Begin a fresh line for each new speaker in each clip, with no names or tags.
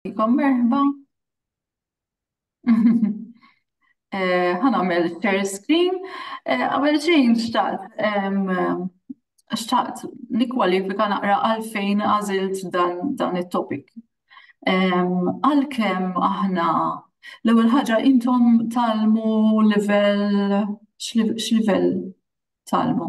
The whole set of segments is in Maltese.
Nagħtikom merħba. Ħanagħmel share screen. Qabel xejn xtaqt xtaqt nikkwalifika naqra għalfejn għażilt dan it-topic. Għalkemm aħna l-ewwel ħaġa intom tgħallmu livell x'livell tgħallmu?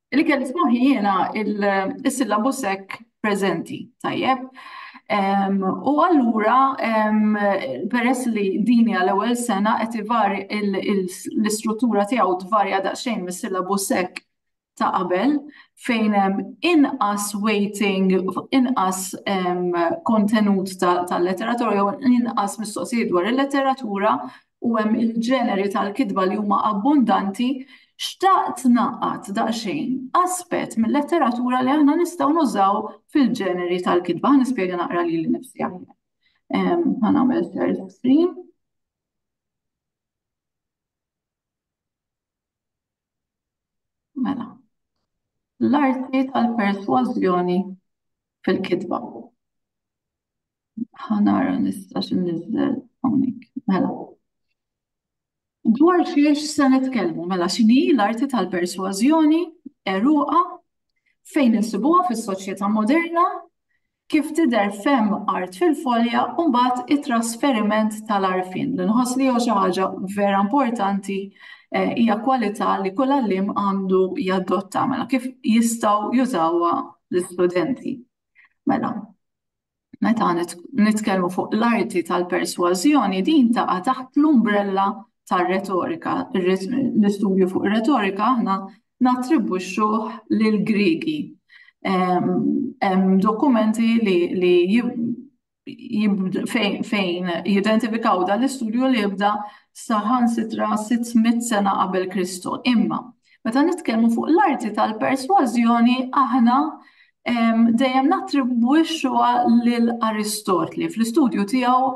Li kelli f'moħħi jiena il-syllabus hekk preżenti, tajjeb. U allura peress li din hija l-ewwel sena qed ivari l-istruttura tiegħu tvarja daqsxejn mis-syllabus hekk ta' qabel fejn hemm inqas weighting, inqas kontenut tal-letteratura jew inqas mistoqsijiet dwar il-letteratura u hemm il-ġeneri tal-kitba li huma abbundanti, xtaqt ngħaqqad daqsxejn aspett mil-letteratura li aħna nistgħu nużaw fil-ġeneri tal-kitba. Ħa nispjega naqra lili nnifsi aħjar. Ħa nagħmel share the screen. Mela. L-arti tal-persważjoni fil-kitba. Ħanara nista' x'inniżżel hawnhekk. Mela. Dwar xiex se nitkellmu, mela x'inhi l-arti tal-persważjoni eruqa fejn insibuha fis-soċjetà moderna kif tidher f'hemm art fil-folja u mbagħad it-trasferiment tal-għarfien li nħoss li hu xi ħaġa vera importanti hija kwalità li kull għalliem għandu jadotta mela kif jistgħu jużawha l-istudenti. Mela, meta nitkellmu fuq l-arti tal-persważjoni din taqa' taħt l-umbrella tar-retorika. L-istudju fuq ir-retorika aħna nattribwixxuh lill-Griegi. Hemm dokumenti li fejn jidentifikaw dan l-istudju li jibda saħansitra 600 sena qabel Kristu. Imma meta nitkellmu fuq l-arti tal-persważjoni aħna dejjem nattribwixxuha lil Aristotli fl-istudju tiegħu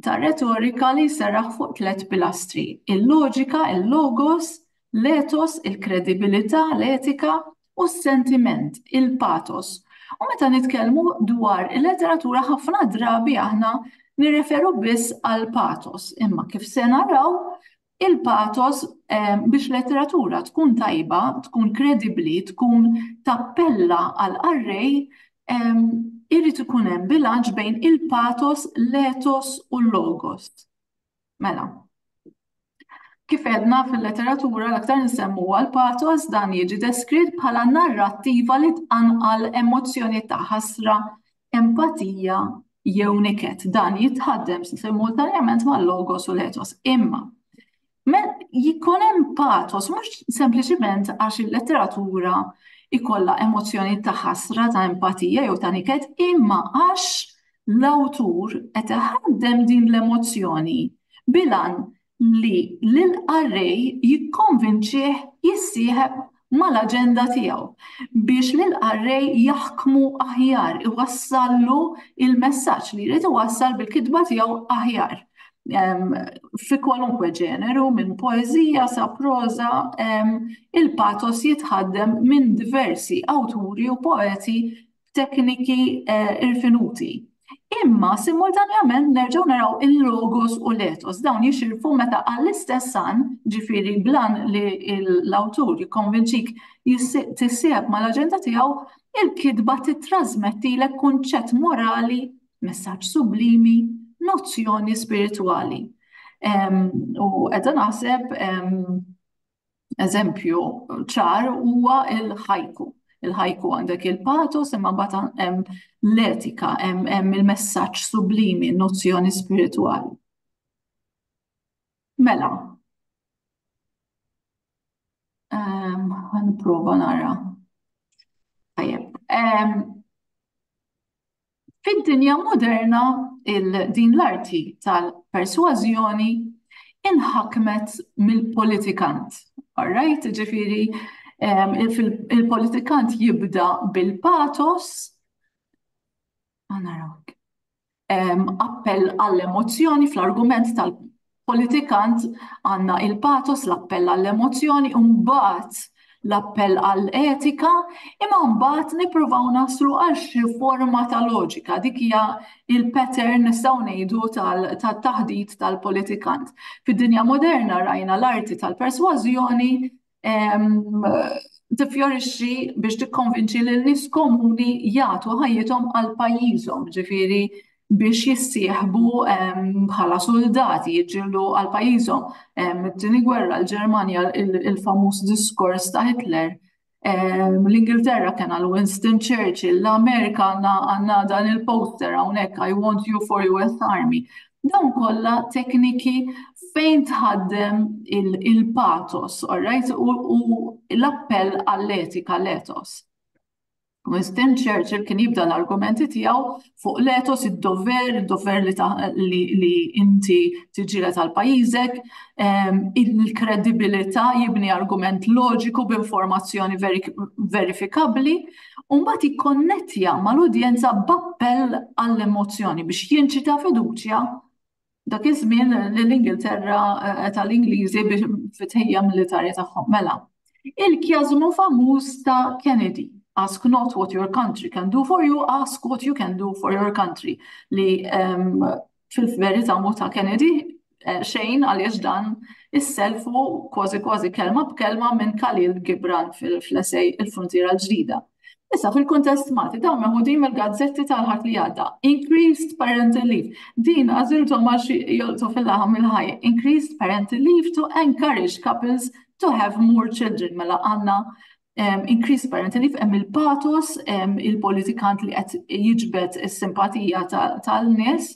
tar-retorika li jserraħ fuq tliet pilastri, il-loġika, il-logos, L-ethos, il-kredibilità, l-etika, u s-sentiment, il-pathos. U meta nitkellmu dwar il-letteratura ħafna drabi aħna nirreferu biss għall-pathos, imma kif se naraw il-pathos ehm, biex letteratura tkun tajba, tkun kredibbli, tkun tappella għal qarrej ehm, irrid ikun hemm bilanċ bejn il-pathos, l-ethos u l-logos. Mela. Kif edna fil-letteratura l-aktar nsemmu għal patos dan jiġi deskritt bħala narrattiva li tqanqal emozzjoni ta' ħasra, empatija jew niket. Dan jitħaddem simultanjament mal-logos u l-etos. Imma, jikun hemm patos mhux sempliċiment għax il-letteratura ikolla emozzjoni ta' ħasra, ta' empatija jew ta' niket, imma għax l-awtur qed iħaddem din l-emozzjoni bil-għan li lill-qarrej jikkonvinċih jissieħeb mal-aġenda tiegħu biex lill-qarrej jaħkmu aħjar, iwassallu l-messaġġ li jrid iwassal bil-kitba tiegħu aħjar fi kwalunkwe ġeneru, minn poeżija sa proża, il-patos jitħaddem minn diversi awturi u poeti tekniki irfinuti. Imma simultanjament nerġgħu naraw il-logos u l-etos dawn jixirfu meta għall-istess għan, ġifieri blan li l-awtur jikkonvinċik tissieħeb mal-aġenda tiegħu, il-kitba tittrażmettilek kunċett morali, messaġġ sublimi, nozzjoni spiritwali. U qiegħda naħseb Eżempju ċar huwa il-ħajku. Il-ħajku għandek il-patos imma mbagħad hemm l-etika, hemm il-messaġġ sublimi, nozzjoni spiritwali. Mela, għan prova nara. Tajjeb. Fid-dinja moderna, din l-arti tal-persważjoni inħakmet mill-politikant. All right? Ġifieri il-politikant jibda bil-patos, naraw, appell għall-emozzjoni fl-argument tal politikant għandna il-patos, l-appell għall-emozzjoni, u mbagħad l-appell għall-etika, imma mbagħad nippruvaw naslu għal xi forma ta' loġika. Dik hija il-pattern nistgħu ngħidu tat-taħdit tal-politikant. Fid-dinja moderna rajna l-arti tal-persważjoni tifjorixxi biex tikkonvinċi lil nies komuni jagħtu ħajjithom għal pajjiżhom, ġifieri biex jissieħbu bħala soldati jiġġieldu għal pajjiżhom. It-tieni gwerra l-Ġermanja il-famuż diskors ta' Hitler. L-Ingilterra kien għal Winston Churchill, l-Amerika għandna dan il-poster hawnhekk I want you for US Army. Dawn kollha tekniki fejn tħaddem il-pathos, all right, u l-appell għall-etika, l-ethos. Winston Churchill kien jibda l-argumenti tiegħu fuq l-etos, id-dover, id-dover li inti tiġġieled għal pajjiżek, ehm, il-kredibilità jibni argument loġiku b'informazzjoni verifikabbli, u mbagħad jikkonnettja mal-udjenza b'appell għall-emozzjoni biex jinċita fiduċja dak iż-żmien lill-Ingilterra tal-Ingliżi fit-tħejjija militari tagħhom. Mela, il-kjażmu famuż ta' Kennedy, Ask not what your country can do for you, ask what you can do for your country, li Fil-verità mhu ta' Kennedy xejn għaliex dan isselfu kważi kważi kelma b'kelma minn Khalil Gibran fl-essej Il-Fruntiera l-Ġdida. Issa fil-kuntest Malti dawn meħudin mill-gazzetti tal-Ħadd li għadda. Increased parental leave. Din għażilthom għax jolqtu fil-laħam il-ħaj. Increased parental leave to encourage couples to have more children. Mela għandna increased parental leave, hemm il-patos, il-politikant li qed jiġbed is-simpatija tal-nies,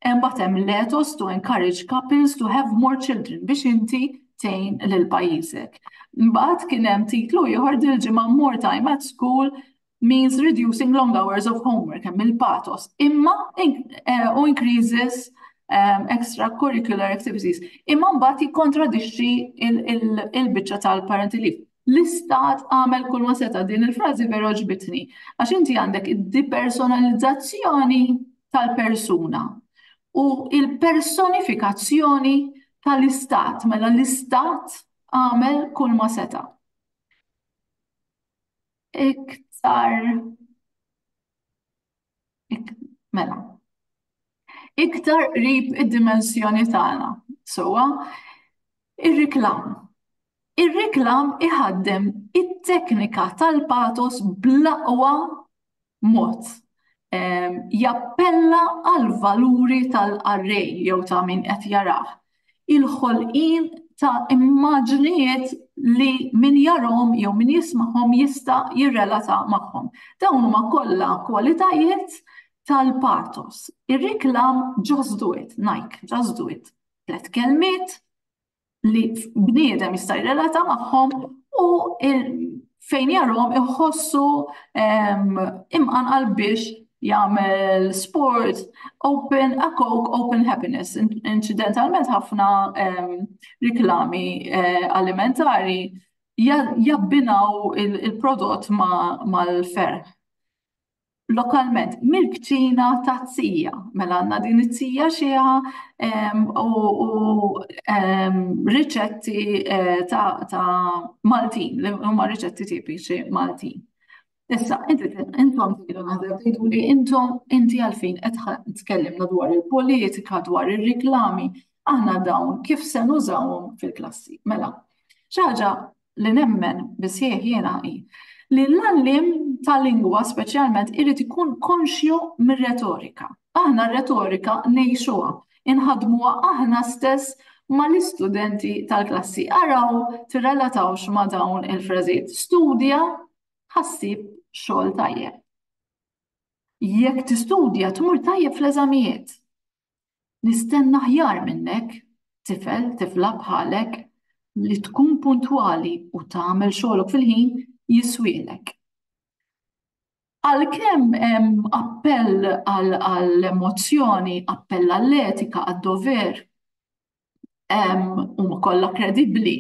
imbagħad hemm l-ethos to encourage couples to have more children biex inti tgħin lil pajjiżek. Imbagħad kien hemm titlu ieħor dil-ġimgħa More Time at School means reducing long hours of homework, hemm il-patos, imma u increases um, extracurricular activities. Imma mbagħad jikkontradixxi il-biċċa tal-parent li l-istat għamel kull ma seta' din il-frażi vera ġbitni għax inti għandek id-depersonalizzazzjoni tal-persuna u il-personifikazzjoni tal-istat mela l-istat għamel kull ma seta'. iktar ik, mela iktar qrib id-dimensjoni tagħna. Sowa, ir-reklam. Ir-reklam iħaddem it-teknika tal-patos bl-aqwa mod. Jappella għal valuri tal-arrej jew ta' min qed jarah. il-ħolqien ta' immaġnijiet li min jarahom jew min jismagħhom jista' jirrelata magħhom. Dawn huma kollha kwalitajiet tal-pathos. Ir-reklam Just Do It, Nike, Just Do It. Tlet kelmiet li bniedem jista' jirrelata magħhom u fejn jarhom iħossu imqanqal biex jagħmel sport open a coke open happiness. Incidentalment ħafna riklami eh, alimentari jabbinaw il-prodott mal-ferħ. lokalment mill-kċina taz-zija. Mela għandna din iz-zija xieħa u riċetti ta' Maltin, li huma riċetti tipiċi Maltin. Issa, intom tridu naħseb tridu li intom inti għalfejn qed tkellimna dwar il-politika, dwar ir-riklami, aħna dawn kif se nużawhom fil-klassi. Mela, xi ħaġa li nemmen bisħieħ jiena hi li l-għalliem ta' lingwa speċjalment irid ikun konxju mir-retorika. Aħna r-retorika ngħixuha, inħaddmuha aħna stess mal-istudenti tal-klassi. Araw tirrelatawx ma' dawn il-frażijiet. Studja ħassib xogħol tajjeb. Jekk tistudja tmur tajjeb fl-eżamijiet. Nistenna aħjar minnek, tifel, tifla bħalek, li tkun puntwali u tagħmel xogħlok fil-ħin jiswielek. Għalkemm hemm appell għall-emozzjoni, appell għall-etika, għad-dover, huma kollha kredibbli,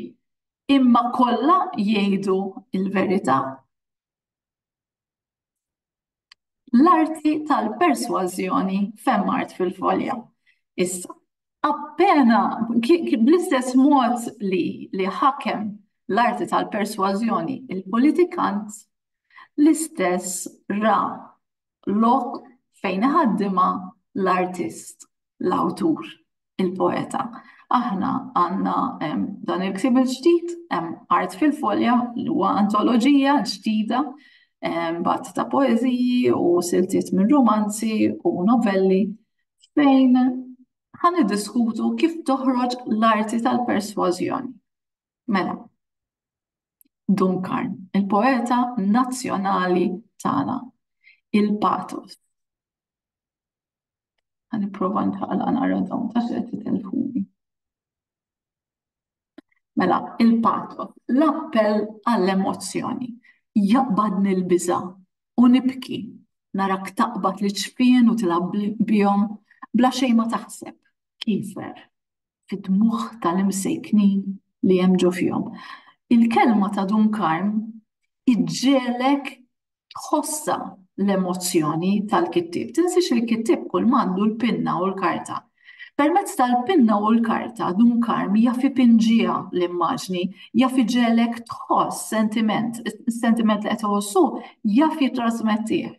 imma kollha jgħidu l-verità? L-arti tal-persważjoni f'hemm art fil-folja. Issa, appena bl-istess mod li li ħakem l-arti tal-persważjoni il-politikant, l-istess ra lok fejn iħaddimha l-artist, l-awtur, il-poeta. Aħna għandna dan il-ksib il-ġdid, Art fil-Folja, li huwa antoloġija ġdida bat ta' poeziji u siltiet minn romanzi u novelli fejn ħan diskutu kif toħroġ l-arti tal-persważjoni. Mela, Dunkarn, il-poeta nazzjonali tagħna, il-patos. Għan iprofa nħala nara dawn ta' xed telefoni. Mela, il-patos, l-appell għall-emozzjoni, jaqbadni l-biża u nibki, narak taqbad li ċfien u tilab bihom bla xejn ma taħseb, kifer. fid-dmugħ tal-imsejknin li hemm ġo fihom. Il-kelma ta' Dun Karm iġġiegħlek tħossha l-emozzjoni tal-kittieb. Tinsiex li l-kittieb kull m'għandu l-pinna u l-karta. Permezz tal-pinna u l-karta Dun Karm jaf ipinġiha l-immaġni, jaf iġiegħlek tħoss sentiment, is-sentiment li qed iħossu jaf jittrażmettih.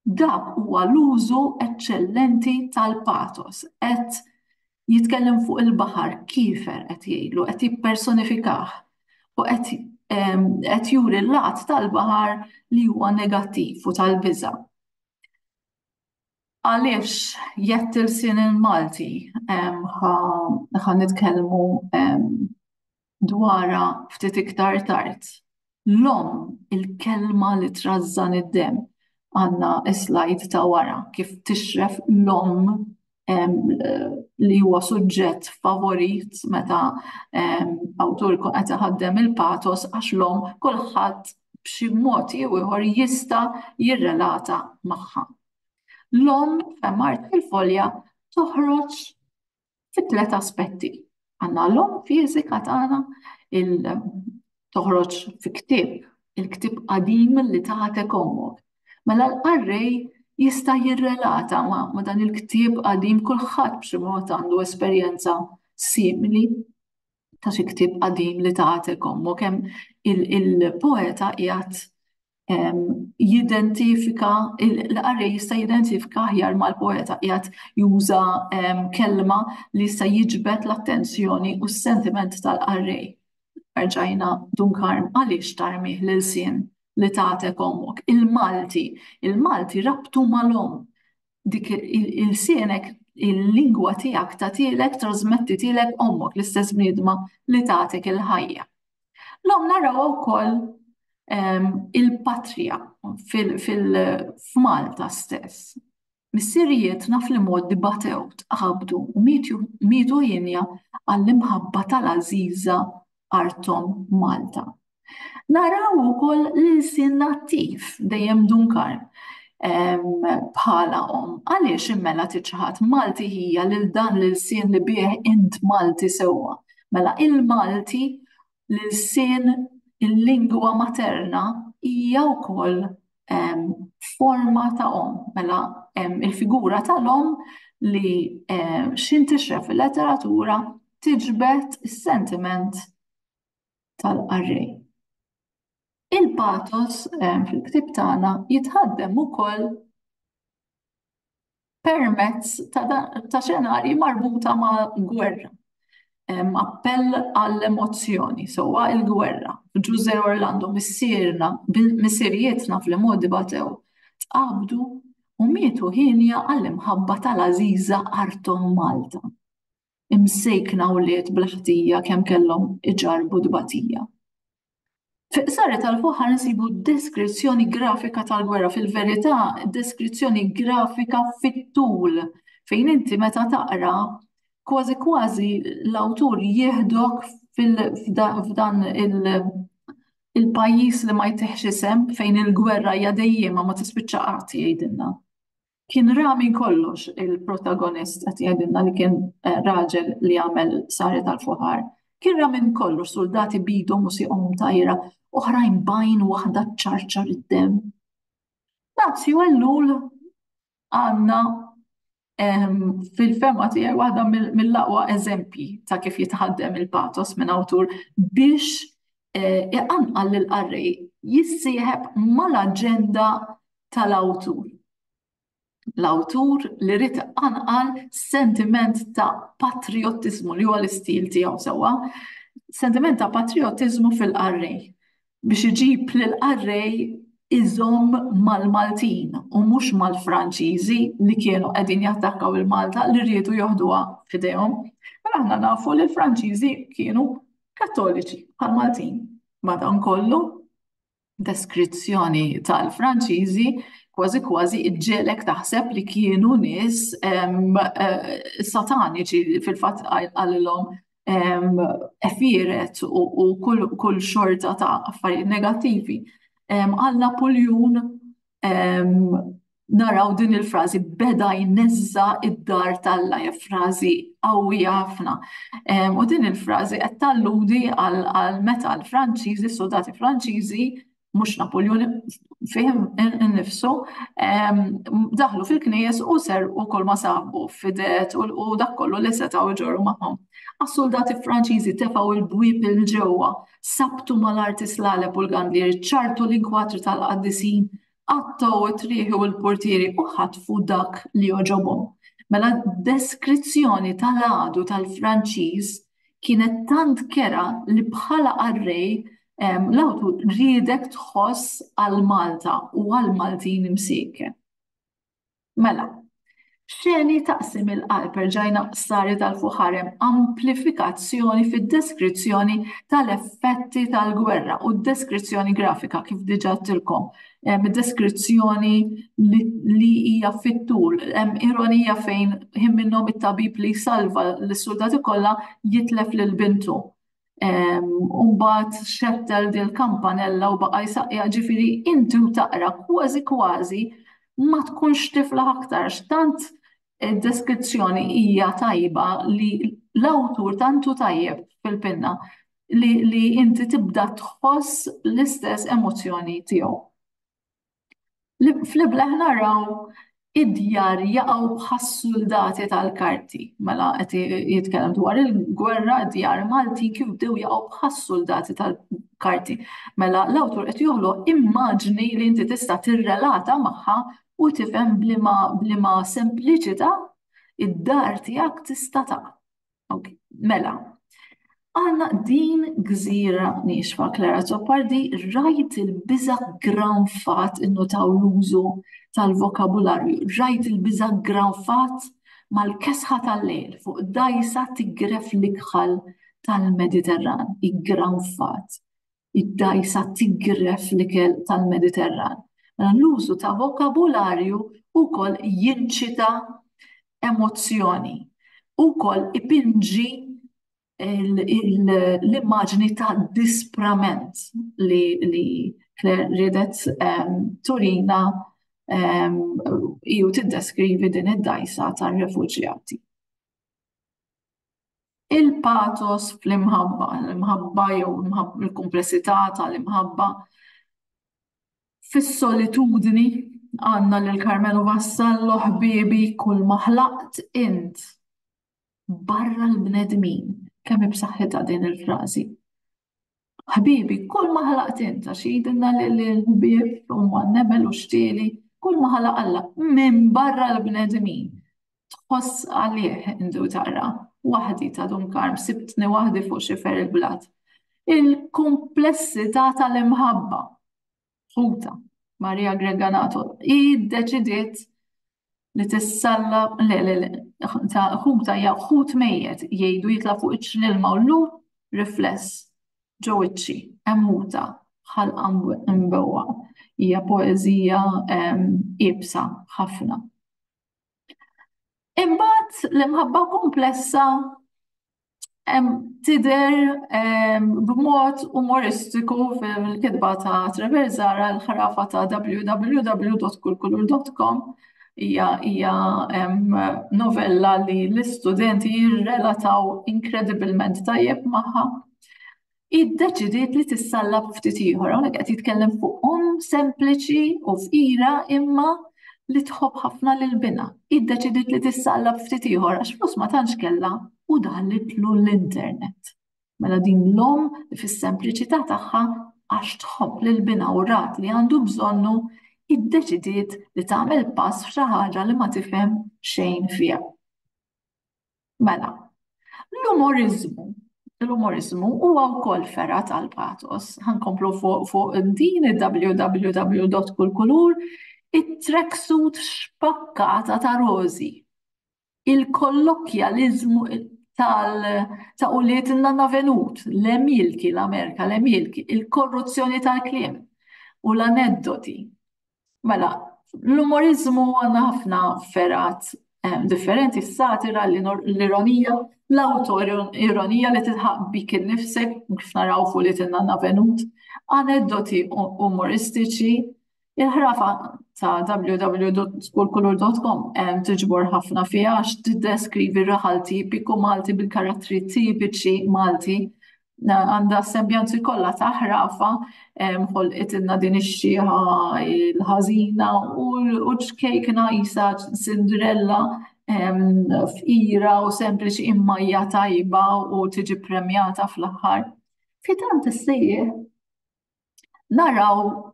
Dak huwa l-użu eċċellenti tal-pathos. Qed jitkellem fuq il-baħar kiefer qed jgħidlu, qed jippersonifikah u qed qed juri l-lat tal-baħar li huwa negattiv u tal-biża'. Għaliex jett ilsien il-Malti ħa nitkellmu dwarha ftit iktar tard. L-omm, il-kelma li trażżan id-demm. Għandna s-slajd ta' wara kif tixref l-omm li huwa suġġett favorit meta awtur ikun qed iħaddem il-patos għax l-omm kulħadd b'xi mod jew ieħor jista' jirrelata magħha. L-omm f'Hemm Art fil-Folja toħroġ fi tliet aspetti. Għandna l-omm fiżika tagħna toħroġ fi ktieb, il-ktieb qadim li tagħtek ommok. Mela l-qarrej jista' jirrelata ma' dan il-ktieb qadim kulħadd b'xi mod għandu esperjenza simili. ta' xi ktieb qadim li tagħtek ommok hemm il-poeta qiegħed jidentifika l-qari jista' jidentifika aħjar mal-poeta qiegħed juża kelma li jista' jiġbed l-attenzjoni u s-sentiment tal-qari. Arġajna Dunkarm għaliex tarmih lil sien li tagħtek ommok. Il-Malti, il-Malti rabtu mal-omm. dik il-sinek il-lingwa tiegħek tagħtilek trasmettitilek ommok l-istess bniedma li tagħtek il-ħajja. L-om naraw wkoll ehm, il-patrija fil-Malta stess. Missirijiet naf li moddi batew tqabdu u mitu jinja għall-imħabba tal-għażiża artom Malta. Naraw ukoll l-ilsien nattiv dejjem Dunkarn bħala omm. Għaliex immela trid xi ħadd Malti hija lil dan l-ilsien li bih int Malti sewwa? Mela il-Malti, l-ilsien, il-lingwa materna hija wkoll forma ta' omm. Mela hemm il-figura tal-omm li x'intixref fil-letteratura tiġbed is-sentiment tal-qarrej. Il-patos eh, fil-ktieb tagħna jitħaddem ukoll permezz ta' xenarji marbuta ma' gwerra. Appell għall-emozzjoni, sowa il-gwerra. Ġuże Orlando missierna, missirijietna fl-modi batew, tqabdu u mietu ħinja għall-imħabba tal-Aziza Artom Malta. Imsejkna wlied bla ħtija kemm kellhom iġarrbu tbatija. Fi qsari tal-fuħar insibu deskrizzjoni grafika tal-gwerra, fil-verità deskrizzjoni grafika fit-tul, fejn inti meta taqra kważi kważi l-awtur jieħdok f'dan il-pajjiż li ma jtihx isem fejn il-gwerra hija dejjiema ma tispiċċa qatt jgħidilna. Kien ra minn kollox, il-protagonist qed jgħidilna li kien raġel li għamel sari tal-fuħar. Kien ra minn kollox, suldati b'idhom u sieqhom mtajra, oħrajn b'għajn waħda ċċarċar id-demm. Dazju Ellul għandna fil-fehma tiegħi waħda mill-aqwa eżempji ta' kif jitħaddem il-patos minn awtur biex iqanqal lill-qarrej jissieħeb mal-aġenda tal-awtur. L-awtur li rrid iqanqal sentiment ta' patriottiżmu li huwa l-istil tiegħu sewwa, sentiment ta' patriottiżmu fil-qarrej biex iġib lil qarrej iżomm mal-Maltin u mhux mal-Franċiżi li kienu qegħdin jattakkaw il-Malta li rridu joħduha f'idejhom. Mela aħna nafu li l-Franċiżi kienu kattoliċi bħal Maltin. Madankollu, deskrizzjoni tal-Franċiżi kważi kważi iġġegħlek taħseb li kienu nies sataniċi fil-fatt qalilhom għefieret u kull xorta ta' affarijiet negattivi. Alla kuljum naraw din il-frażi beda jneżża id-dar tal-la hija frażi qawwija ħafna. U din il-frażi qed talludi għal meta l-Franċiżi, soldati Franċiżi, mhux Napoljun fih innifsu, daħlu fil-knejjes u serqu kull ma sabu fidet u dak kollu li setgħu jġorru magħhom. Għas-soldati Franċiżi tefgħu l-bwieb il-ġewwa Sabtu mal-art is-slaleb u l-gandier, ċarrtu l-inkwatri tal-qaddisin, qattgħu t-trieħi u l-purtieri u ħatfu dak li għoġobhom. Mela d-deskrizzjoni tal-għadu tal-Franċiż kienet tant kerha li bħala qarrej l-awtur riedek tħoss għal Malta u għall-Maltin imsiekken. Mela, xeni taqsim il-qalb erġajna qsari tal-fuħar hemm amplifikazzjoni fid-deskrizzjoni tal-effetti tal-gwerra u d-deskrizzjoni grafika kif diġà għedtilkom. Hemm deskrizzjoni li hija fit-tul, hemm ironija fejn ħin minnhom it-tabib li jsalva lis-suldati kollha jitlef lil bintu. Umbat xettel dil kampanella u baqa jisaqja ġifiri inti u taqra kważi kważi ma tkunx tifla aktar tant id-deskrizzjoni eh, hija tajba li l-awtur tantu tajjeb fil-pinna li, li inti tibda tħoss l-istess emozjoni tiegħu. Fl-ibleħ naraw id-djar jaqgħu bħas-suldati tal-karti. Mela qed jitkellem dwar il-gwerra djar Maltin kif bdew jaqgħu bħas-suldati tal-karti. Mela l-awtur qed joħloq immaġni li inti tista' tirrelata magħha u tifhem bliema sempliċità id-dar tiegħek tista' taqa'. Ok, mela. Għanna din gżira nixfa Klara Zoppardi rajt il-biza granfat innutaw l-użu tal-vokabularju, rajt il-biza granfat mal-kesħa tal-lejl fuq dajsa tigref l-ikħal tal-Mediterran, i granfat. id-dgħajsa tiggref l-ikel tal-Mediterran. Mela l-użu ta' vokabularju wkoll jinċita emozzjoni, ukoll ipinġi l-immaġni ta' disprament li Claire ridet ehm, turina ehm, ju tiddeskrivi din id-dajsa tar-refuġjati. Il-pathos fl-imħabba, l-imħabba jew il-kumplessità tal-imħabba fis-solitudni għandna lil Karmenu Vassallo ħbiebi kull ma ħlaqt int barra l-bnedmin. Kemm hi b'saħħitha din il-frażi. Ħbibi, kull ma ħalaqt int, għax jgħidilna li l-ħbieb huma n-nemel u x-xtieli, kull ma ħalaq Alla minn barra l-bnedmin. Tħoss għalih inti u tara. Waħdi ta' Dun Karm, sibtni waħdi fuq xifer il-blat. Il-kumplessità tal-imħabba. Huta, Maria Greganato, i deċidiet li tissalla, le, le, le, ta' ħuta ja ħut mejjet jgħidu jitla' fuq iċ l-ilma u l-lu rifless ġo iċċi, hemm ħuta ħalqa mbewwa. Hija poeżija ibsa ħafna. Imbagħad l-imħabba komplessa tider b'mod umoristiku fil-kitba ta' Trevor Zara l-ħrafa ta' www.kulkulur.com hija hija novella li l-istudenti jirrelataw inkredibilment tajjeb magħha. hi ddeċidiet li tissallab ftit ieħor. Hawnhekk qed jitkellem fuq omm sempliċi u fqira imma li tħobb ħafna lil binha. Hi ddeċidiet li tissallab ftit ieħor għax flus ma tantx kellha u daħlitlu l-internet. Mela din l-omm li fis-sempliċità tagħha għax tħobb lil binha u rat li għandu bżonnu iddeċidiet li tagħmel pass f'xi ħaġa li ma tifhem xejn fiha. Mela, l-umoriżmu. L-umoriżmu huwa wkoll ferra tal-patos. Ħankomplu fuq fuq din www.kulkulur it-tracksuit xpakkata ta' rożi. Il-kollokjaliżmu tal ta' uliet nanna venut, l-emilki, l-Amerika, l-emilki, il-korruzzjoni tal-kliem u l-aneddoti Mela, l-umoriżmu għandna ħafna ferat differenti, s-satira, l-ironija, l-awtoironija li tilħaq bik innifsek, kif naraw fuq li tinna venut, aneddoti umoristiċi, il-ħrafa ta' www.schoolkulur.com tiġbor ħafna fiha għax tiddeskrivi r-raħal tipiku Malti bil-karattri tipiċi Malti għandha s-sembjanzi kollha ta' ħrafa ħolqitilna din ix-xieħa l-ħażina u ċkejkna jisa Cinderella f'ira u sempliċi imma hija tajba u tiġi premjata fl-aħħar. Fitant issejjaħ naraw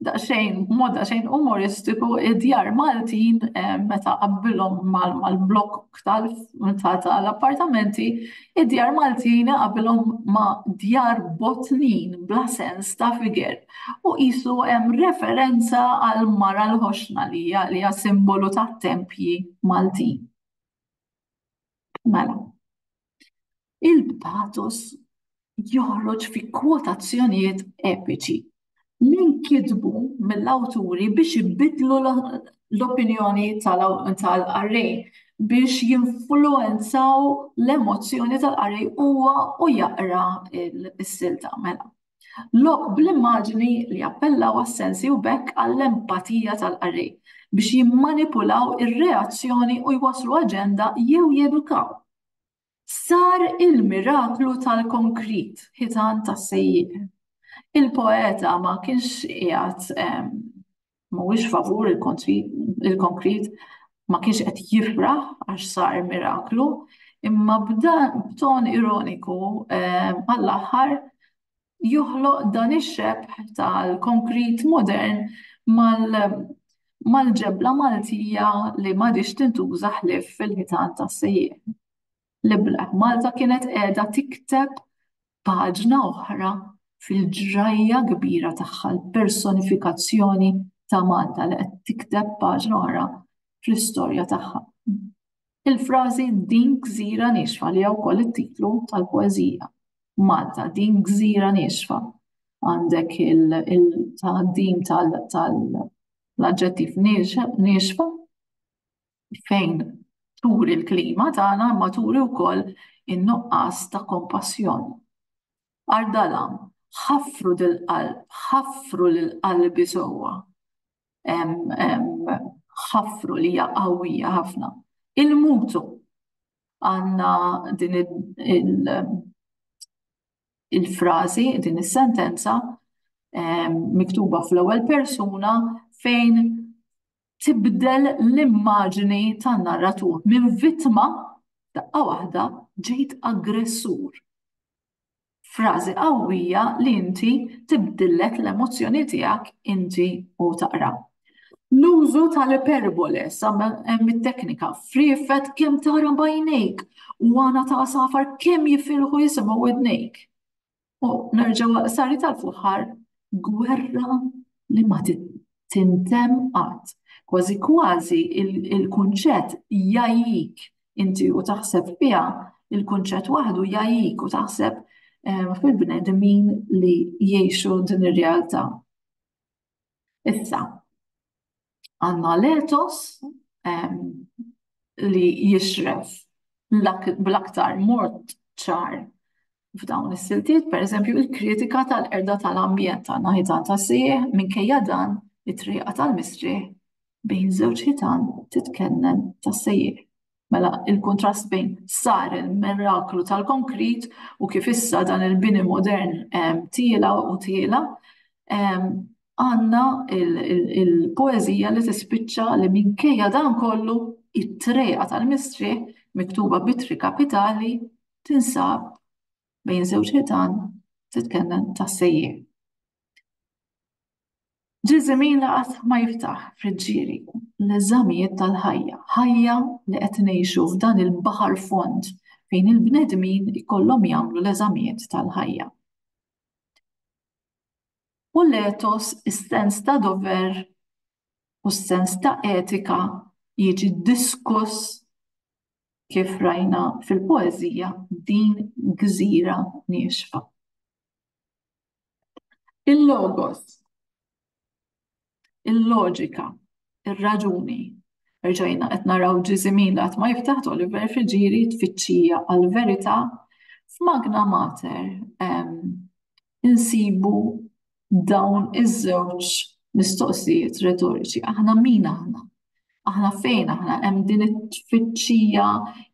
daqsxejn mod daqsxejn umoristiku id-djar Maltin eh, meta qabbilhom mal-blokk tal-appartamenti, id-djar Maltin qabbilhom ma' djar botnin bla sens ta' figer u qisu hemm referenza għal mara l-ħoxna li hija simbolu tat-tempji Maltin. Mela. Il-patos joħroġ fi kwotazzjonijiet epiċi li nkitbu mill-awturi biex ibiddlu l-opinjoni tal-qarrej, biex jinfluwenzaw l-emozzjoni tal-qarrej huwa u jaqra s-silta. Mela, lok bl-immaġni li jappellaw għas-sensi u b'hekk għall-empatija tal-qarrej, biex jimmanipulaw ir-reazzjoni u jwasslu aġenda jew jedukaw. Sar il-miraklu tal-konkrit, ħitan tas-sejjieq. Il-poeta ma kienx qiegħed mhuwiex favur il-konkrit, ma kienx qed jifraħ għax sar miraklu, imma b'ton ironiku għall-aħħar joħloq dan ix-xebh tal-konkrit modern mal-ġebla Maltija li m'għadhiex tintuża ħlief fil-ħitan tas-sejjieħ. L-ibliħ Malta kienet qiegħda tikteb paġna oħra fil-ġrajja kbira tagħha, l-personifikazzjoni ta' Malta li qed tikteb paġna oħra fl-istorja tagħha. Il-frażi din gżira niexfa li hija wkoll it-titlu tal-poeżija. Malta, din gżira niexfa. Għandek il-taqdim tal-aġġettiv niexfa fejn turi l-klima tagħna imma turi wkoll in-nuqqas ta' kompassjoni. Għar dalam, ħaffru dil-qalb, ħaffru lill-qalbi sewwa. ħafru li hija qawwija ħafna. Il-mutu għandna din il-frażi, din is-sentenza miktuba fl-ewwel persuna fejn tibdel l-immaġni tan-narratur minn vittma daqqa waħda ġejt aggressur. frażi qawwija li inti tibdillek l-emozzjoni tiegħek inti u taqra. L-użu tal-iperbole sa hemm it-teknika friefet kemm tara bajnejk u għana ta' safar kemm jifirħu jisimgħu widnejk. U nerġgħu sari tal-fuħar gwerra li ma tintem qatt. Kważi kważi il-kunċett jajjik inti u taħseb biha, il-kunċett waħdu jajjik u taħseb eh, fil-bnedmin li jiexu din ir-realtà. Issa, għanna l-etos ehm, li jixref bl-aktar mort ċar F'dawn is-siltiet, pereżempju, il-kritika tal-qerda tal-ambjent għandna ħitan ta' sieħ, minkejja dan, it-triegħa tal-mistrieħ bejn żewġ ħitan titkellem ta' sejjieħ. Mela, il-kuntrast bejn sar il-miraklu tal-konkrit u kif issa dan il-bini modern tiela u tiela, għandna il-poeżija li tispiċċa li minkejja dan kollu it-triegħa tal-mistrieħ miktuba b'ittri kapitali tinsab bejn żewġ ħitan titkellem tas-sejjieħ. Ġiżimin laqas ma jiftaħ friġġieri l-eżamijiet tal-ħajja, ħajja li qed ngħixu f'dan il-baħar fond fejn il-bnedmin ikollhom jagħmlu l-eżamijiet tal-ħajja. U l-etos, is-sens ta' dover u s-sens ta' etika jiġi diskuss kif rajna fil-poeżija Din Gżira Niexfa. Il-logos, il-loġika, ir-raġuni, erġajna qed naraw ġiżimin li qatt ma jiftaħ t'Oliver Friggieri tfittxija għall-verità f'magna mater insibu dawn iż-żewġ mistoqsijiet retoriċi. Aħna min aħna? Aħna fejn aħna hemm din it-tfittxija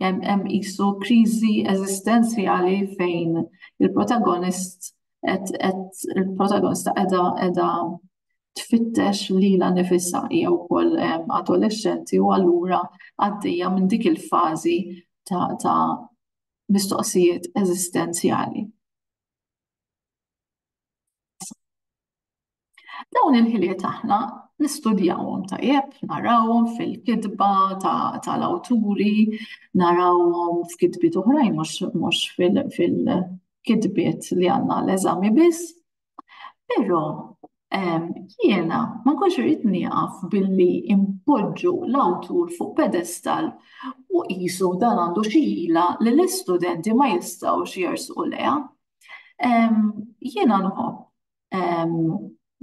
hemm qisu kriżi eżistenzjali fejn il-protagonist qed il-protagonista qiegħda qiegħda tfittex lilha nifisha hija wkoll adolexxenti u allura għaddejja minn dik il-fażi ta' mistoqsijiet eżistenzjali. Dawn il-ħiliet aħna nistudjawhom tajjeb, narawhom fil-kitba tal-awturi, narawhom f'kitbiet oħrajn mhux fil-kitbiet li għandna l-eżami biss. Però jiena ma nkunx irrid nieqaf billi impoġġu l-awtur fuq pedestal u qisu dan għandu xi ħila li l-istudenti ma jistgħux jersqu lejha. Jiena nħobb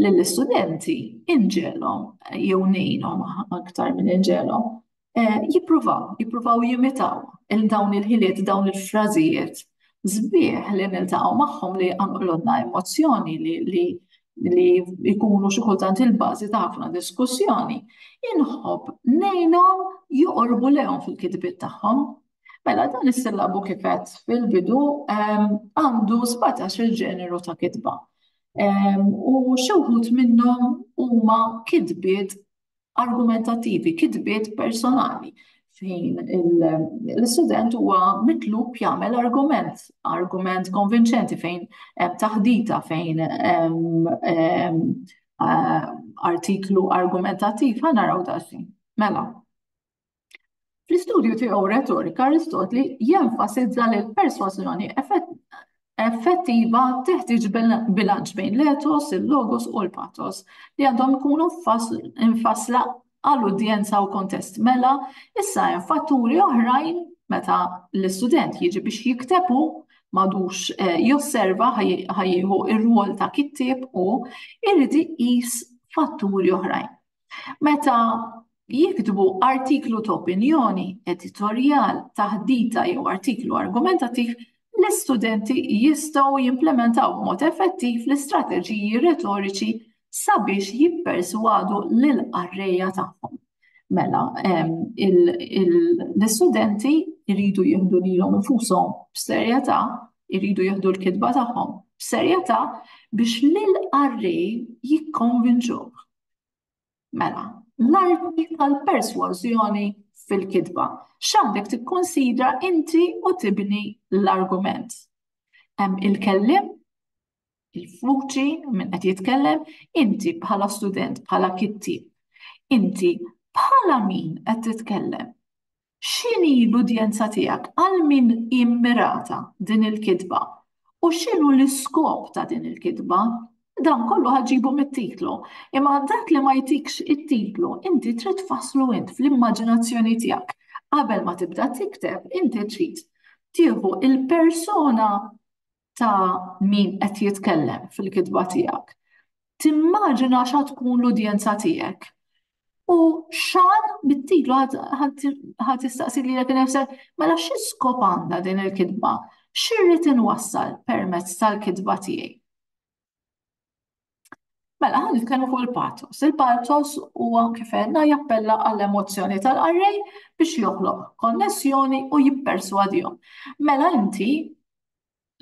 lill-istudenti inġelhom jew ngħinhom aktar minn inġelhom eh, jippruvaw, jippruvaw jimitaw il-dawn il-ħiliet, dawn il-frażijiet zbieħ li niltaqgħu magħhom li għanqlodna emozzjoni li, li li jkunu xi kultant il-bażi ta' ħafna diskussjoni, inħobb nejnom joqorbu lehom fil-kitbiet tagħhom. Mela dan is-sillabu kifet fil-bidu ehm, għandu 17 il-ġeneru ta' kitba. Ehm, u xewħut minnhom huma kitbiet argumentattivi, kitbiet personali fejn l-istudent huwa mitlub jagħmel argument, argument konvinċenti fejn hemm taħdita, fejn hemm eh, artiklu argumentattiv, ħa naraw dażin. Mela, Fl-istudju tiegħu Retorika, Aristotli jenfasizza li l-persważjoni effettiva teħtieġ bilanċ bejn l-etos, il-logos u l-patos li għandhom ikunu mfassla għal udjenza u kontest. Mela, issa hemm fatturi oħrajn meta l-istudent jiġi biex jiktebu madux eh, josserva ħajjiħu ir-rwol ta' kittib u irrid iqis fatturi oħrajn. Meta jiktbu artiklu ta' opinjoni, editorjal, taħdita jew artiklu argumentattiv, l-istudenti jistgħu jimplementaw b'mod effettiv l-istrateġiji retoriċi sabiex jipperswadu lil qarrejja tagħhom. Mela, l-istudenti jridu jieħdu lilhom infushom b'serjetà, jridu jieħdu l-kitba tagħhom b'serjetà biex lil qarrej jikkonvinċuh Mela, l-arti tal-persważjoni fil-kitba. X'għandek tikkunsidra inti u tibni l-argument. Hemm il-kellim, il-vuċi minn qed jitkellem, inti bħala student, bħala kitti. Inti bħala min qed titkellem? X'inhi l-udjenza tiegħek? Għal min hi mmirata din il-kitba? U x'inhu l-iskop ta' din il-kitba? Dan kollu ħa ġġibu mit-titlu. Imma dak li ma jtikx it-titlu inti trid tfasslu int fl-immaġinazzjoni tiegħek. Qabel ma tibda tikteb inti trid tieħu l-persuna ta' min qed jitkellem fil-kitba tiegħek, timmaġina xa tkun l-udjenza tiegħek. U xan bit-titlu ħad tistaqsi li jek nefsek, mela xi skop għandha din il-kitba? Xirrid inwassal permezz tal-kitba tiegħi? Mela, ħan nitkellmu fuq il-pathos. Il-pathos huwa kif għedna jappella għall-emozzjoni tal-qarrej biex joħloq konnessjoni u jipperswadihom. Mela inti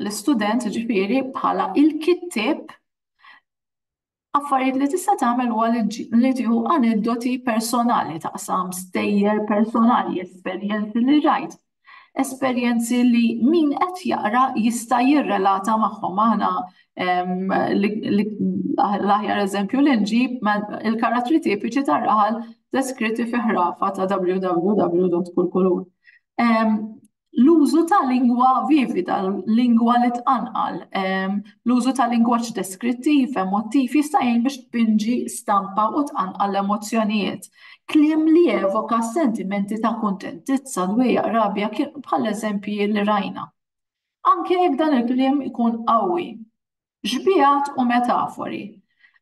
l-istudent ġifieri bħala il-kittib affarijiet li tista' tagħmel huwa li tieħu aneddoti personali taqsam stejjer personali, esperjenzi li rajt, esperjenzi li min qed jaqra jista' jirrelata magħhom. Aħna l-aħjar eżempju li nġib il-karattri tipiċi tar-raħal deskritti fi ħrafa ta' www.kulkulur. L-użu ta' lingwa vivida, lingwa li tqanqal, l-użu ta' lingwaġġ deskrittiv, emottiv jista' jgħin biex tpinġi stampa u tqanqal l-emozzjonijiet. Kliem li jevoka sentimenti ta' kuntentizza, dwejjaq, rabja kien bħall-eżempji li rajna. Anke jekk dan il-kliem ikun qawwi. Xbigħat u metafori.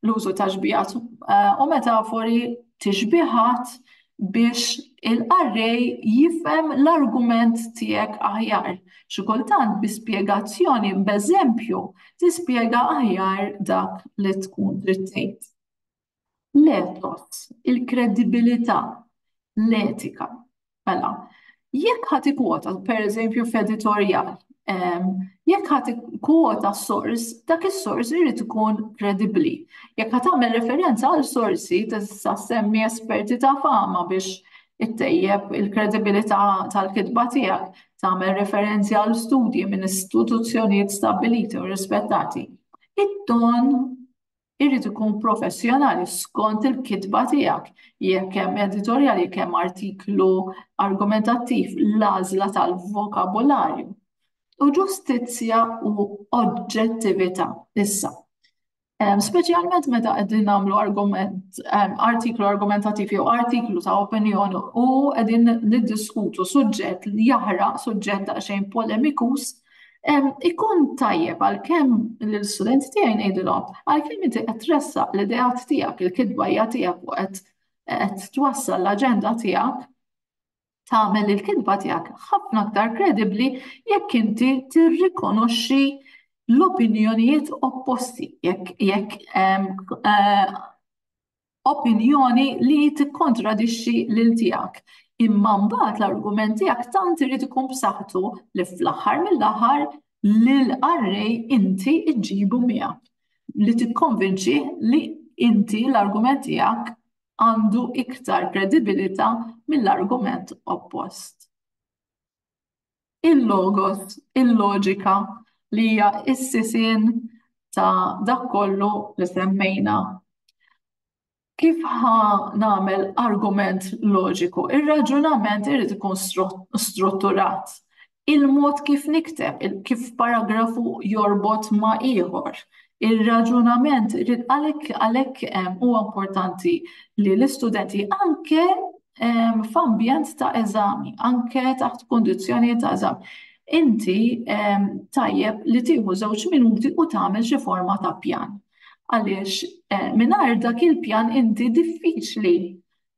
L-użu ta' xbigħat eh, u metafori tixbihat biex il-qarrej jifhem l-argument tiegħek aħjar. Xi kultant bi spjegazzjoni b'eżempju tispjega aħjar dak li tkun trid tgħid. L-ethos, il-kredibilità, l-etika. Mela, jekk ħadd ikwota, pereżempju f'editorjal, ehm, jekk ħadd ikwota sors, dak is-sors irid ikun kredibbli. Jekk ħadd tagħmel referenza għal sorsi tista' semmi esperti ta' fama biex ittejjeb il-kredibilità tal-kitba tiegħek, tagħmel referenzi għal studji minn istituzzjonijiet stabbiliti u rispettati. It-ton Irid ikun professjonali skont il-kitba tiegħek. Jekk hemm editorjal, jekk hemm artiklu argumentattiv, l-għażla tal-vokabularju. U ġustizzja u oġġettività issa. Speċjalment meta qegħdin nagħmlu argument, artiklu argumentattiv jew artiklu ta' opinjoni u qegħdin niddiskutu suġġett li jaħraq, suġġett daqsxejn polemikus, Ikun tajjeb għalkemm l-studenti tiegħi ngħidilhom, għalkemm inti qed tressaq l-ideat tiegħek, il-kidbajja tiegħek u qed qed twassal l-aġenda tiegħek, tagħmel il-kidba tiegħek ħafna aktar kredibbli jekk inti tirrikonoxxi l-opinjonijiet opposti, jekk jekk eh, opinjoni li tikkontradixxi lil tiegħek, imma mbagħad l-argument tiegħek tant irid ikun b'saħħtu li fl-aħħar mill-aħħar lill-qarrej inti ġġibu miegħek li tikkonvinċih li inti l-argument tiegħek għandu iktar kredibilità mill-argument oppost. il-logos, il-loġika li hija s-sisien ta' dak kollu li semmejna. Kif ħa nagħmel argument loġiku? Ir-raġunament irid ikun strutturat. Il-mod kif nikteb, kif paragrafu jorbot ma' ieħor, Ir-raġunament irid għalhekk għalhekk huwa importanti li l-istudenti anke f'ambjent ta' eżami, anke taħt kundizzjonijiet ta' eżami, inti tajjeb li tieħu żewġ minuti u tagħmel xi forma ta' pjan. Għaliex mingħajr dak il-pjan inti diffiċli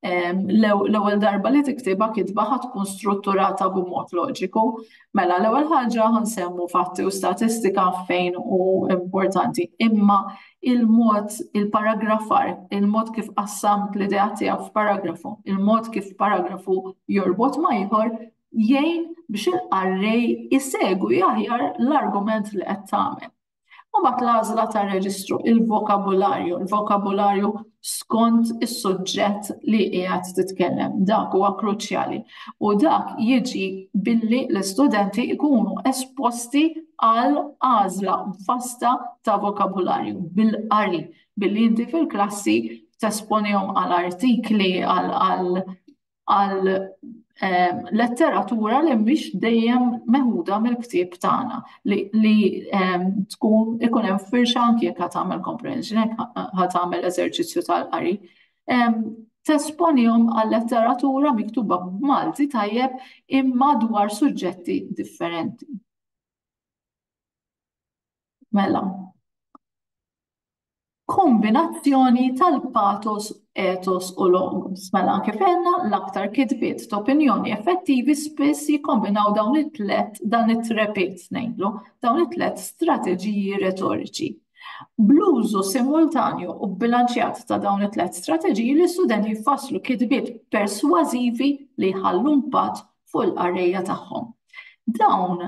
L-ewwel darba li tiktibha kitba ħa tkun strutturata b'mod loġiku. Mela l-ewwel ħaġa ħa nsemmu fatti u statistika fejn hu importanti, imma il-mod il-paragrafar, il-mod kif qassamt l-idea tiegħek f'paragrafu, il-mod kif paragrafu jorbot ma' ieħor jgħin biex il-qarrej isegwi aħjar l-argument li qed tagħmel. U bat l-għażla tar-reġistru, il-vokabularju, il-vokabularju skont is-suġġett li qiegħed titkellem. Dak huwa kruċjali. U dak jiġi billi l-istudenti jkunu esposti għal għażla vasta ta' vokabularju bil-qari, billi inti fil-klassi tesponihom għal artikli, għal għal ehm, letteratura li mhix dejjem meħuda mill-ktieb tagħna li ehm, tkun ikun hemm firxa anki jekk tagħmel comprehension jekk tagħmel eżerċizzju tal-qari. Ehm, tesponihom għal letteratura miktuba b'Malti tajjeb imma dwar suġġetti differenti. Mela, Kombinazzjoni tal-patos, ethos u logos. Mela, kif għedna, l-aktar kitbiet t'opinjoni effettivi spiss jikkombinaw dawn it-tliet, dan it-trepied ngħidlu, dawn it-tliet strateġiji retoriċi. Bl-użu simultanju u bbilanċjat ta' dawn it-tliet strateġiji, l-istudenti jfasslu kitbiet persważivi li jħallu impatt fuq il-qarrejja tagħhom. Dawn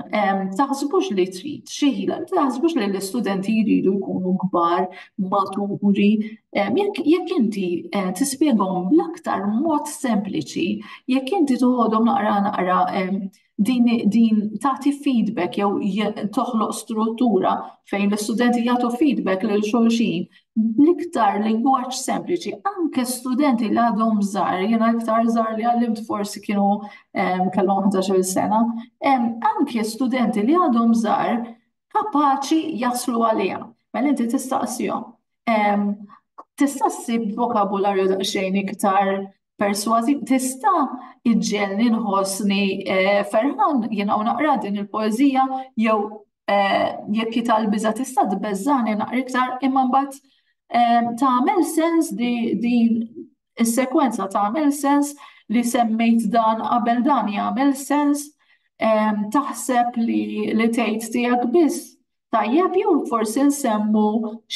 taħsbux li trid xi ħila, taħsbux li l-istudenti jridu jkunu kbar, maturi, jekk inti eh, tispjegahom bl-aktar mod sempliċi, jekk inti toħodhom naqra naqra din, din tagħti feedback jew toħloq struttura fejn l-istudenti jagħtu feedback lil xulxin bl-iktar lingwaġġ sempliċi, anke studenti li għadhom żgħar, jiena iktar żgħar li għallimt forsi kienu kellhom 11-il sena, anke studenti li għadhom żgħar kapaċi jaslu għaliha. Mela inti tistaqsihom. Tista' ssib vokabularju daqsxejn iktar persważiv tista' iġġelni nħossni ferħan jiena u naqra din il-poeżija jew jekk hi tal-biża' tista' tbeżżani naqra iktar imma mbagħad tagħmel sens din is-sekwenza tagħmel sens li semmejt dan qabel dan jagħmel sens taħseb li tgħid tiegħek biss Tajjeb jew forsi nsemmu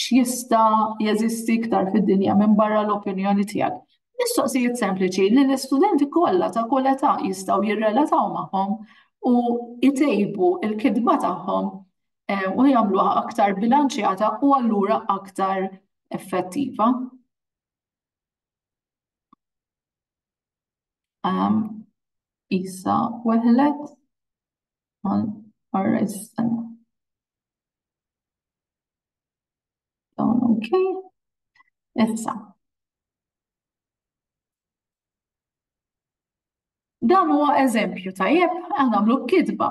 x'jista' jeżisti iktar fid-dinja minn barra l-opinjoni tiegħek. Mistoqsijiet sempliċi li l-istudenti kollha ta' kull età jistgħu jirrelataw magħhom u jtejbu l-kitba tagħhom eh, u jagħmluha aktar bilanċjata u allura aktar effettiva. Ehm, Isa weħlet. Issa. Dan huwa eżempju tajjeb għal nagħmlu kitba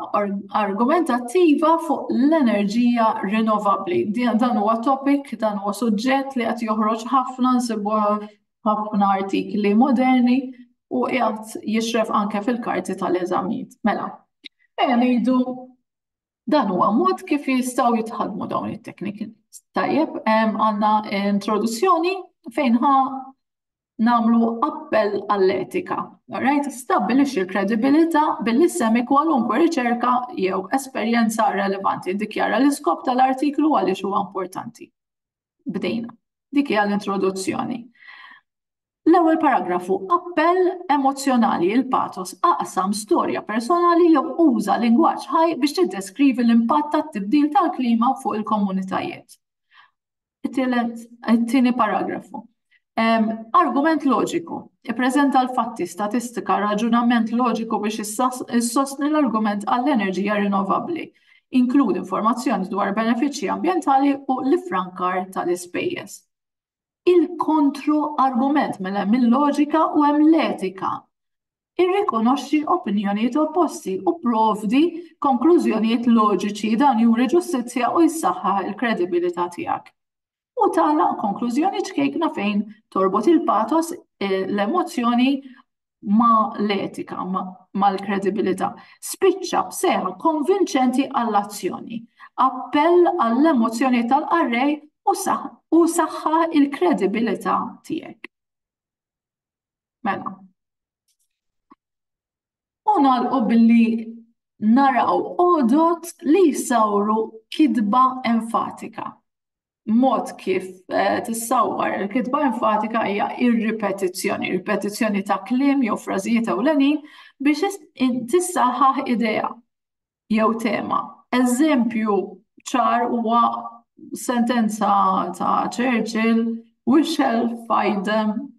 argumentattiva fuq l-enerġija rinnovabbli. Dan huwa topic, dan huwa suġġett li qed joħroġ ħafna nsibuha ħafna artikli moderni u qiegħed jixref anke fil-karti tal-eżamijiet. Mela, ejja ngħidu dan huwa mod kif jistgħu jitħadmu dawn it-tekniki. Tajjeb, għandna introduzzjoni fejn ħa namlu appell għall-etika. Right? Stabilix il-kredibilità billi semmi kwalunkwe riċerka jew esperjenza relevanti. Dikjara l-iskop tal-artiklu għaliex huwa importanti. bdejna. Dik hija l-introduzzjoni. L-ewwel paragrafu appell emozzjonali il patos aqsam storja personali jew uża lingwaġġ ħaj biex tiddeskrivi l-impatt tat-tibdil tal-klima fuq il-komunitajiet. It-tieni paragrafu. Argument loġiku. Ippreżenta l-fatti, statistika, raġunament loġiku biex issostni l-argument għall-enerġija rinnovabbli. Inkludi informazzjoni dwar benefiċċji ambjentali u l-iffrankar tal-ispejjeż. Il-kontro argument mela hemm il-loġika u hemm l-etika irrikonoxxi opinjonijiet opposti u provdi konklużjonijiet loġiċi dan juri ġustizzja u jsaħħaħ il-kredibilità tiegħek. u tala konklużjoni ċkejkna fejn torbot il-patos eh, l-emozzjoni ma l-etika, ma l-kredibilità. Spiċċa b'seħa konvinċenti għall-azzjoni. Appell għall-emozzjoni tal-qarrej u saħħa il-kredibilità tiegħek. Mela, U nagħlqu billi naraw għodot li jsawru kitba enfatika. Mod kif eh, tissawwar il-kitba enfatika hija ir-ripetizzjoni, ripetizzjoni ta' kliem jew frażijiet ewlenin biex tissaħħaħ idea jew tema. Eżempju ċar huwa sentenza ta' Churchill, we shall fight them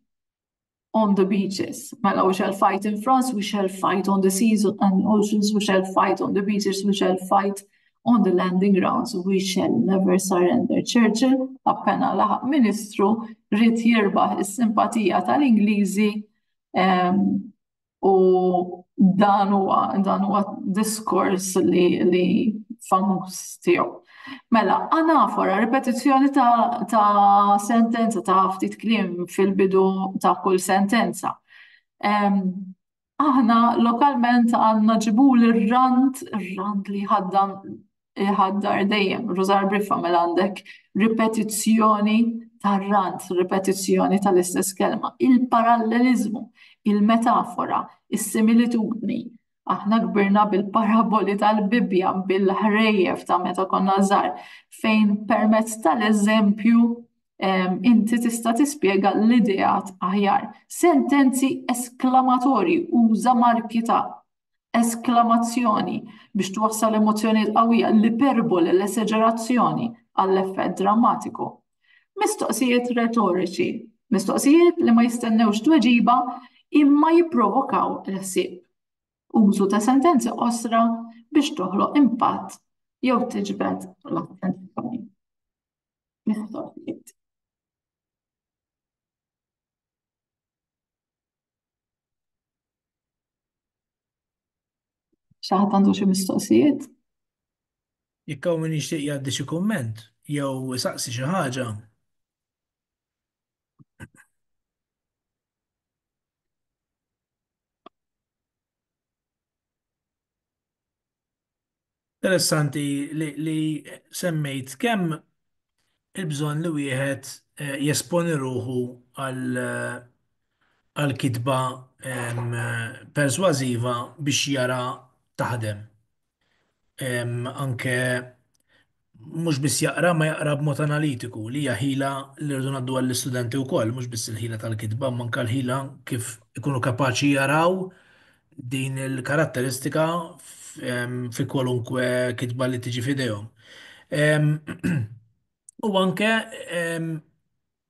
on the beaches. Mela, we shall fight in France, we shall fight on the seas and oceans, we shall fight on the beaches, we shall fight on the landing grounds, we shall never surrender. Churchill, appena laħaq ministru, rrit jirbaħ is-simpatija tal-Ingliżi ehm, U dan huwa dan huwa diskors li li famuż tiegħu. Mela, anafora, ripetizzjoni ta', ta sentenza ta' ftit kliem fil-bidu ta' kull sentenza. Aħna lokalment għandna ġibul ir-rand, ir-rand li ħaddan iħaddar dejjem rużar brifa mela għandek ripetizzjoni tar-rant, ripetizzjoni tal-istess kelma, il-paralleliżmu, il-metafora, is-similitudni. Aħna kbirna bil-paraboli tal-Bibbja, bil-ħrejjef ta' meta konna żgħar, fejn permezz tal-eżempju inti tista' tispjega l-ideat aħjar. Sentenzi esklamatorji uża marki ta' esklamazzjoni biex twassal emozzjonijiet qawwija, l-iperbole, l-eseġerazzjoni għall-effett drammatiku. Mistoqsijiet retoriċi, mistoqsijiet li ma jistennewx tweġiba imma jipprovokaw l-ħsieb. Użu ta' sentenzi qosra biex toħloq impatt jew tiġbed l-attenzjoni. Mistoqsijiet. Xaħat għandu xi mistoqsijiet?
Jekk hawn min jixtieq jgħaddi xi kumment jew isaqsi xi ħaġa. Interessanti li semmejt kemm il-bżonn li wieħed jesponi ruħu għal kitba persważiva biex jara taħdem. Anke mhux biss jaqra, ma jaqra b'mod analitiku, li hija ħila li rridu ngħaddu għall-istudenti wkoll, mhux biss il-ħila tal-kitba, imma anke l-ħila kif ikunu kapaċi jaraw din il-karatteristika f- em, fi kwalunkwe kitba li tiġi f'idejhom. Em, U anke, em,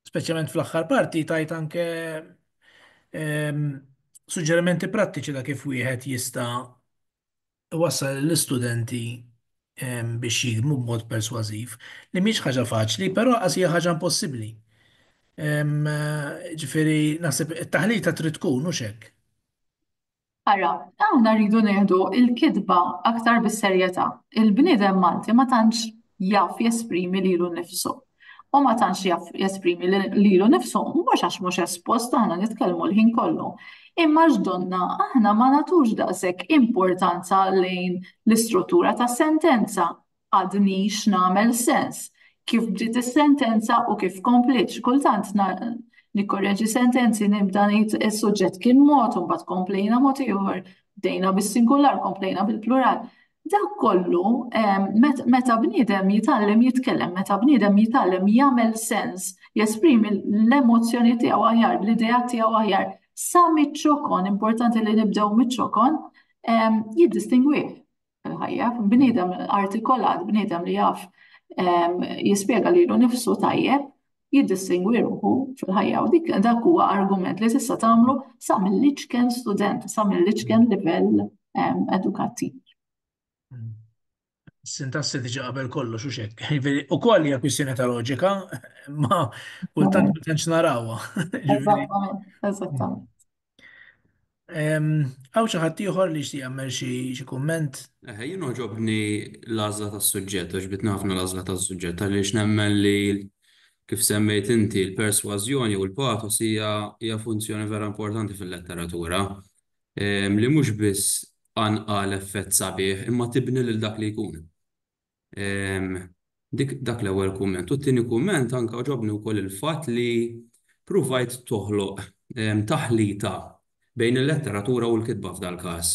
speċjalment fl-aħħar parti, tajt anke em, suġġerimenti prattiċi ta' kif wieħed jista' iwassal lill-istudenti biex jiktbu b'mod persważiv, li mhix ħaġa faċli, però lanqas hija ħaġa impossibbli. Jiġifieri naħseb it-taħlita trid tkun, hux hekk?
Ara, aħna rridu nieħdu l-kitba aktar bis-serjetà. Il-bniedem Malti ma tantx jaf jesprimi lilu nnifsu. u ma tantx jaf jesprimi lilu nifsu mhux għax mhux espost aħna nitkellmu l-ħin kollu. Imma x'donna aħna ma nagħtux daqshekk importanza lejn l-istruttura tas-sentenza. Għadni x'nagħmel sens kif bdiet is-sentenza u kif kompliet. Kultant nikkorreġi sentenzi nibda ngħid is-suġġett kien mod u mbagħad komplejna mod ieħor, bdejna bis-singular, komplejna bil-plural. Dak kollu, meta bniedem jitgħallem jitkellem, meta bniedem jitgħallem jagħmel sens, jesprimi l-emozzjoni tiegħu aħjar, l-idea tiegħu aħjar, sa miċ-ċokon, importanti li nibdew miċ-ċokon, jiddistingwih il-ħajja. Bniedem artikolat, bniedem li jaf jispjega lilu nifsu tajjeb, jiddistingwi ruħu fil-ħajja u dik dak huwa argument li tista' tagħmlu sa mill-iċken student, sa mill-iċken livell ehm, edukattiv.
Sintassi diġa qabel kollox u xek. U koll hija kwistjoni ta' loġika, ma kultant ma tantx narawha. Eżattament, eżattament. Għaw xi ħadd ieħor li xti jagħmel xi kumment? Eħe, jien oġobni
l-għażla tas-suġġett, għax bitna ħafna l-għażla tas-suġġett, għaliex nemmen li kif semmejt inti l-persważjoni u l-patos hija funzjoni vera importanti fil-letteratura li mhux biss anqal effett sabiħ imma tibni lil dak li jkun. Dik dak l-ewwel kumment. U t-tieni kumment anke ġobni wkoll il-fatt li pruvajt toħloq taħlita bejn il-letteratura u l-kitba f'dal-każ.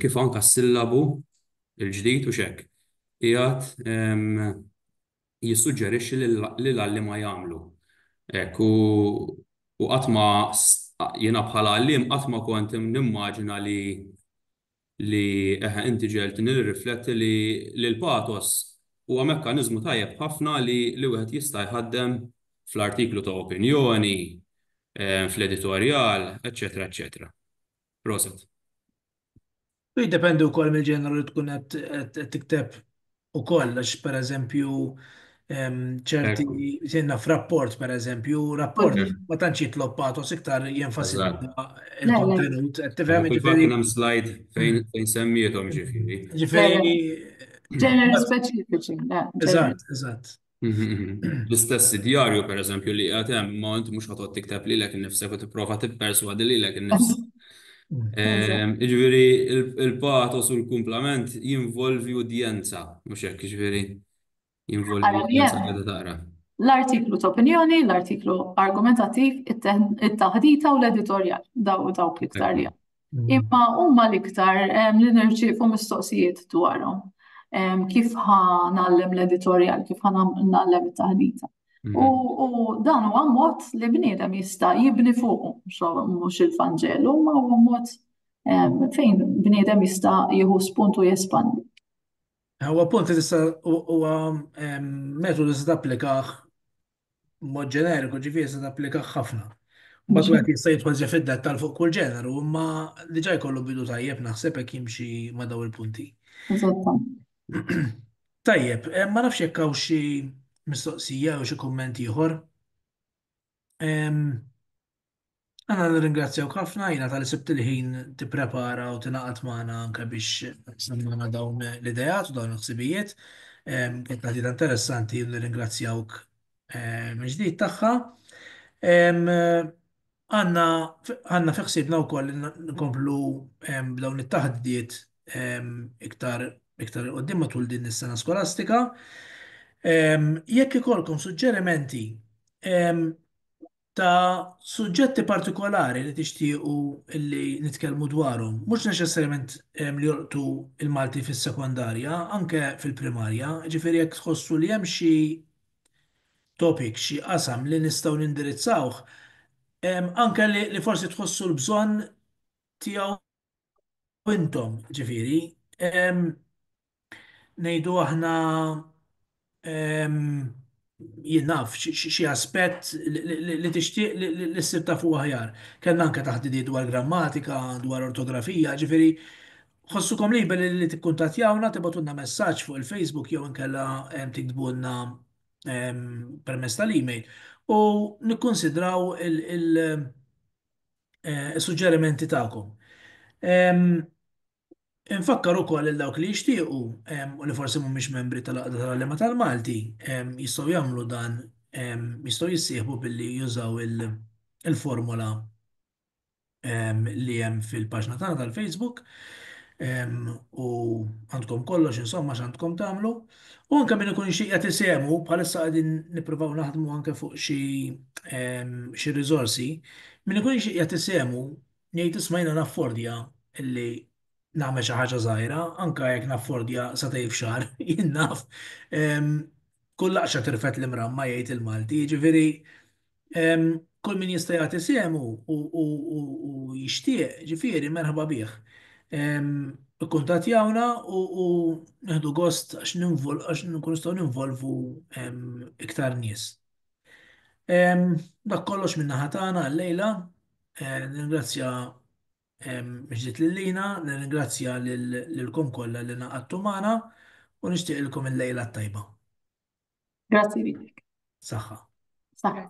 Kif anke s-sillabu l-ġdid u x'hekk qiegħed jissuġġerixxi li l-għalliema jagħmlu. Hekk u qatt ma jiena bħala għalliem qatt ma kont nimmaġina li li eħe inti ġegħeltni nirrifletti li li l-pathos huwa mekkaniżmu tajjeb ħafna li li wieħed jista' jħaddem fl-artiklu ta' opinjoni, fl-editorjal, eċċetera eċċetera. Proset.
Jiddependi wkoll mill-ġeneru li tkun qed tikteb ukoll għax pereżempju ċerti jenna f'rapport pereżempju, rapport ma tantx jitlob pathos iktar jenfasizza l-kontenut. Tifhem jiġifieri. Kien
hemm slide fejn semmiethom ġifieri. Ġifieri.
Ġeneru
speċifiċi. Eżatt, eżatt.
L-istess djarju, per eżempju, li għad hemm, ma inti mhux ħatot tikteb lilek innifsek u tipprova tipperswadi lilek innifsek. Ehm, jiġifieri il-patos u l-kumplament jinvolvi udjenza, mhux hekk, jiġifieri jinvolvi udjenza meta taqra.
L-artiklu ta' opinjoni, l-artiklu argumentattiv, it-taħdita u l-editorjal, daw dawk iktar li Imma huma l-iktar li nirċievu mistoqsijiet dwarhom. Kif ħa nallem l-editorjal, kif ħa nallem it-taħdita. Mhm. U dan huwa mod li bniedem jista' jibni fuq, mhux il-Vanġelu, ma huwa mod fejn bniedem jista' jieħu spuntu jespandi. Huwa
punt li tista' huwa metodu li tista' applikaħ b'mod ġeneriku, ġifieri se tapplika ħafna. Mbagħad wieħed jista' jidħol ġa fid-dettall fuq kull ġeneru, imma diġà jkollu bidu tajjeb naħseb hekk jimxi ma' dawn il-punti. Tajjeb, ma nafx jekk hawn xi mistoqsija jew xi kumment ieħor. Aħna nirringrazzjawk ħafna jiena tal sibt il-ħin tipprepara u tingħaqad magħna anke biex semmana dawn l-idejat u dawn il-ħsibijiet. Ehm, Kienet taħdita interessanti u nirringrazzjawk ehm, mill-ġdid tagħha. Ehm, Għanna għanna fi ħsiebna wkoll li n- nkomplu ehm, b'dawn it-taħdiet ehm, iktar iktar qoddim matul din is-sena skolastika. Ehm, Jekk ikolkom suġġerimenti, ehm, ta' suġġetti partikolari li tixtiequ li nitkellmu dwarhom, mhux neċessarjament li jolqtu l-Malti fis-sekondarja, anke fil-primarja, jiġifieri jekk tħossu li hemm xi topic, xi qasam li nistgħu nindirizzawh, anke li forsi tħossu l-bżonn tiegħu u intom, ġifieri, ehm, ngħidu aħna ehm, jien naf xi- xi xi aspett li- li li- li tixtieq li- li li ssir ta' fuq aħjar. Kellna anke taħdidiet dwar grammatika, dwar ortografija, ġifieri ħossukom liberi li li tikkuntattjawna, tibgħatulna messaġġ fuq il-Facebook jew inkella ehm, tiktbulna ehm, permezz tal-email u nikkunsidraw il- il- is-suġġerimenti tagħkom. Infakkar ukoll lil dawk li jixtiequ u li forsi mhumiex membri tal-Għaqda tal-Għalliema tal-Malti jistgħu jagħmlu dan jistgħu jissieħbu billi jużaw il-formola li hemm fil-paġna tagħna tal-Facebook u għandkom kollox insomma x'għandkom tagħmlu. U anke min ikun jixtieq jagħti sehmu, bħalissa qegħdin nippruvaw naħdmu anke fuq xi ehm, xi riżorsi, min ikun jixtieq jagħti sehmu ngħid isma' jiena naffordja illi nagħmel xi ħaġa żgħira, anke jekk naffordja sa tgħid f'xahar, jien naf. Ehm, kull laqxa tirfed l-imramma jgħid il-Malti, jiġifieri Kull min jista' jagħti sehmu u jixtieq, ġifieri merħba bih. Ikkuntattjawna u nieħdu gost għax nkunu nistgħu ninvolvu iktar nies. Dak kollox min-naħa tagħna għal-lejla. Nirringrazzja mill-ġdid lil Lina, nirringrazzja lilkom kollha li ngħaqadtu magħna u nixtieqilkom il-lejla t-tajba. Grazzi lilek.
Saħħa.
Saħħa.